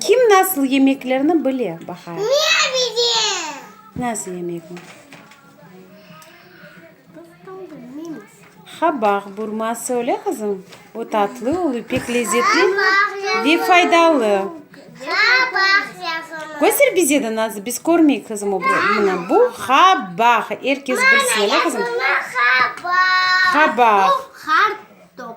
Kim nasıl yemeklerni bile, Bahar? Men bilem. Nasıl yemekni? Qabaq burması, öyle qızım? O tatlı olu, pek lezzetli ve faydalı. Qabaq yazılı. Göster bize de nasıl, biz körmeyik qızım o burasını. Bu qabaq, er kes bilsin, öyle qızım? Yazılı qabaq. Qabaq. Bu qartop.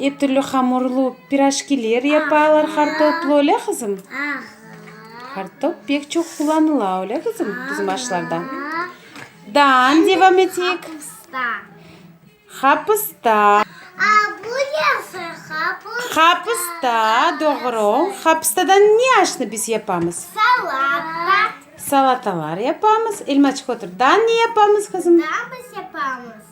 Er türlü hamurlı piraşkiler yapalar hartoplı, öyle qızım? Hartop pek çoq qullanıla, öyle qızım, bizim aşlarda? Dan, devam eteyik. Hapısta. Hapısta, doğru. Hapıstadan ne aşnı biz yapamız? Salatalar yapamız. Elmaçık, otur. Dan ne yapamız, qızım? Dan biz yapamız.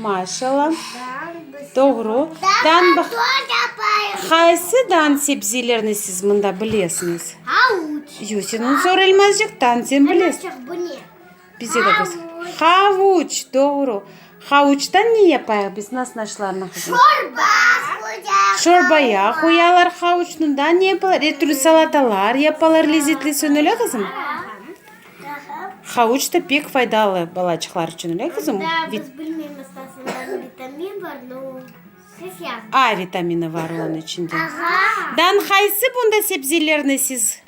Maşalla. Doğru. Dan baq. Qaysı dan sebzelerni siz mında bilesiñiz? Havuç. Yusinun sorelmezcik dan sen biles. Elmezcik bu ne? Bize de göster. Havuç. Havuç. Doğru. Havuçtan ne yapayıq biz? Nas naşlarnı qızım? Çorba. Çorbaya qoyalar havuçnı. Dan ne yapalar? Er türlü salatalar yapalar, lezetli sönele qızım? Havuç da pek faydalı balaçıqlar içün, öyle qızım? A vitamini bar onıñ içinde. Dan qaysı bunda sebzelerni siz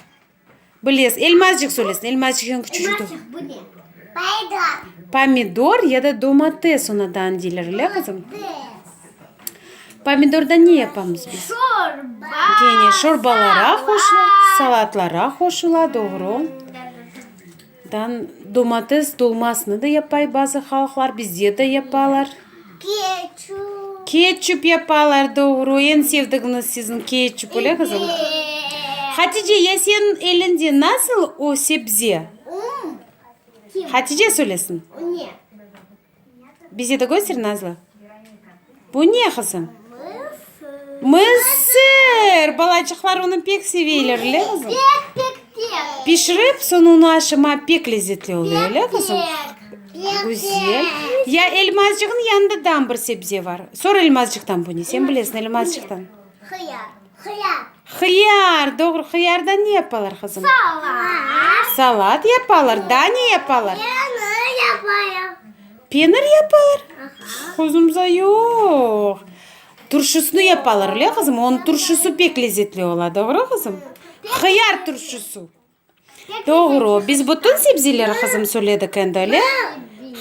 bilesiz? Elmazcıq söylesin, elmazcıq eñ küçücik. Pomidor ya da domates ona dan deyler, öyle qızım? Pomidordan ne yapamız biz? Şorba! Gene şorbalara qoşula, salatlara qoşula, doğru. Dan domates dolmasını da yapay bazı halqlar, bizde de yapalar. Keçup! Keçup yapalar, doğru. Eñ sevdiğiniz siziñ keçup, öyle qızım? Eee! Hatice, ya señ elinde nasıl o sebze? Kim? Hatice söylesin. O ne? Bize de köster, Nazlı. Bu ne, qızım? Mısır. Mısır! Balacıqlar onı pek seveyler, öyle, qızım? Pek, pek, pek. Pişirip, soñ onı aşama pek lezzetli oluyor, öyle, qızım? Pek, Güzel. Ya elmazcığın yanında dam bir sebze var. Sor elmazcıqtan bu ne? Sen bilesiñ elmazcıqtan. Hıyar. Hıyar. Hıyar, doğru. Hıyardan ne yapalar, qızım? Salat. Salat yapalar. Daa ne yapalar? Penir yapalar. Penir yapalar? Aha. Quzumza, yoq. Turşusını yapalar, öyle, qızım? Onıñ turşusı pek lezzetli ola, doğru, qızım? Hıyar turşusı. Doğru, biz bütün sebzeleri qızım söyledik endi, öyle?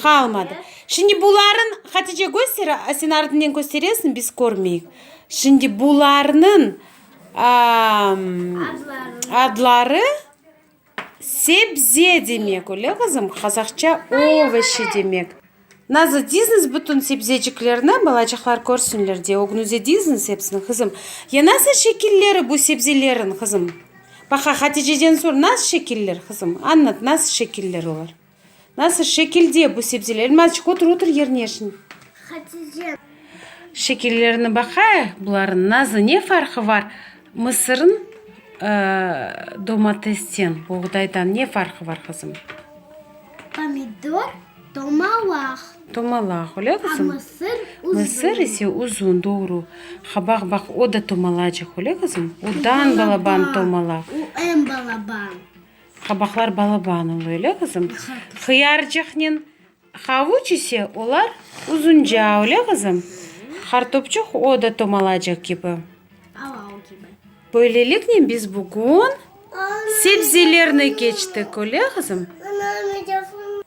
Qalmadı. Şimdi bularnıñ, Hatice göster, sen ardınen kösteresiñ, biz körmeyik. Şimdi bularnıñ adları sebze demek, öyle qızım? Qazaqça ovoşi demek. Nazı dizniz bütün sebzeciklerni, balacıqlar körsinler diye ögünüze dizniz hepsini, qızım. Ya nasıl şekilleri bu sebzeleriñ, qızım? Baqa, Haticeden sor, nasıl şekiller, qızım? Anlat, nasıl şekiller olar? Nasıl şekilde bu sebzeler? Elmazçıq, otur, otur yerine şimdi. Hatice. Şekillerini baqay bularnıñ, Nazı, ne farqı bar mısırın domatesten, buğdaydan ne farqı bar, qızım? Pomidor. Tomalağ. Tomalağ, öyle qızım? A mısır uzun. Mısır ise uzun, doğru. Ha, baq, baq, o da tomalacıq, öyle qızım? U dan balaban tomalağ. U en balaban. Qabaqlar balaban ola, öyle qızım? Hıyarcıqnen havuç ise olar uzunca, öyle qızım? Qartopçıq o da tomalacıq kibi. Aval kibi. Böyleliknen biz bugün sebzelerni keçtik, öyle qızım?